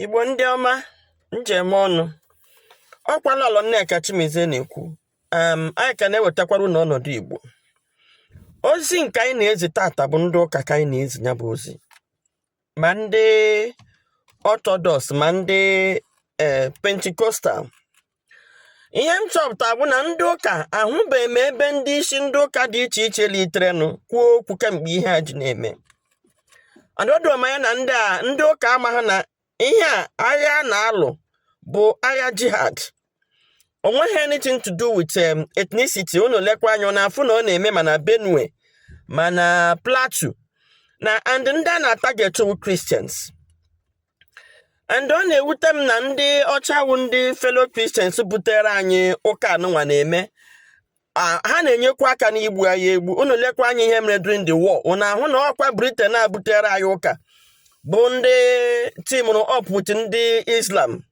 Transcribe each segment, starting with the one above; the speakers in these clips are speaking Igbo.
Igbo ndị ọma m ji eme ọnụ ọkwa Lọlọ Nneka Chimezie na-ekwu um, anyị ka na-ewetakwara unu ọnọdụ Igbo ozi nke anyị na-ezi taata bụ ndị ụka ka anyị na-ezi ya bụ ozi ma ndị orthodox ma ndị eh, pentecostal ihe m chọpụta bụ na ndị ụka ahụbeghị m ebe ndị isi ndị ụka dị iche iche literenụ kwuo okwu kemgbe ihe a ji na-eme o doro m anya na ndị a ndị ụka amahụ na ihe a agha a na-alụ bụ agha jihad o nweghị anything to do with um, ethnicity unu lekwa anya na afụ na ọ na-eme ma na benue ma na plateau na and ndị a na-atarget wụ christians and ọ na-ewute m na ndị ọcha wụ ndị fellow Christians butere anyị ụka anụnwa na-eme ha na-enyekwa aka n'igbu anyị egbu unu lekwa anya ihe mere during the war unu ahụ na ọkwa Britain a butere anyị ụka bụ ndị teamụrụ up with ndị Islam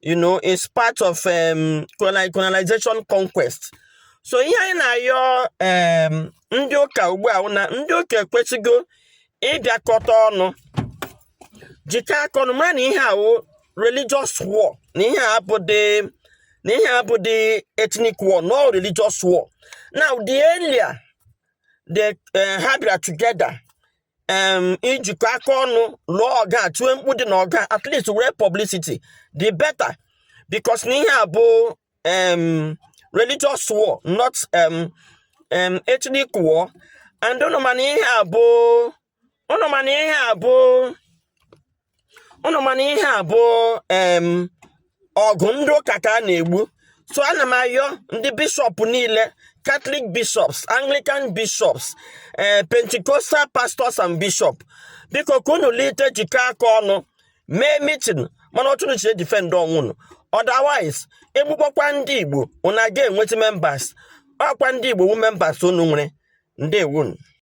you know it's part of um, colonization conquest so ihe anyị na-ayọ um, ndị ụka ugbu a wụ na ndị ụka ekwesigo ịbịakọta ọnụ jikọ aka ọnụ mara na ihe a wụ religious war na ihe abụdị na ihe abụdị ethnic war no religious war now the earlier the eh, ha bịara together ijikọ aka ọnụ lụọ ọgụ a tiwe mkpu dị na ọgụ a at least were publicity the better because na ihe a bụ religious war not ethnic war and ụnụ ma na ihe a bụ ụnụ ma na ihe a bụ ụnụ ma na ihe a bụ ọgụ ndị ụka ka a na-egbu so ana m ayọ ndị bishop niile catholic bishops anglican bishops ee eh, pentecostal pastors and bishops biko ka unu lite jikọ aka ọnụ mee meeting manụ otu unu ji edefend onwe unu otherwise egbukpọkwa ndị igbo unu aga enweta members ọkwa ndị igbo wu members unu nwere ndewonu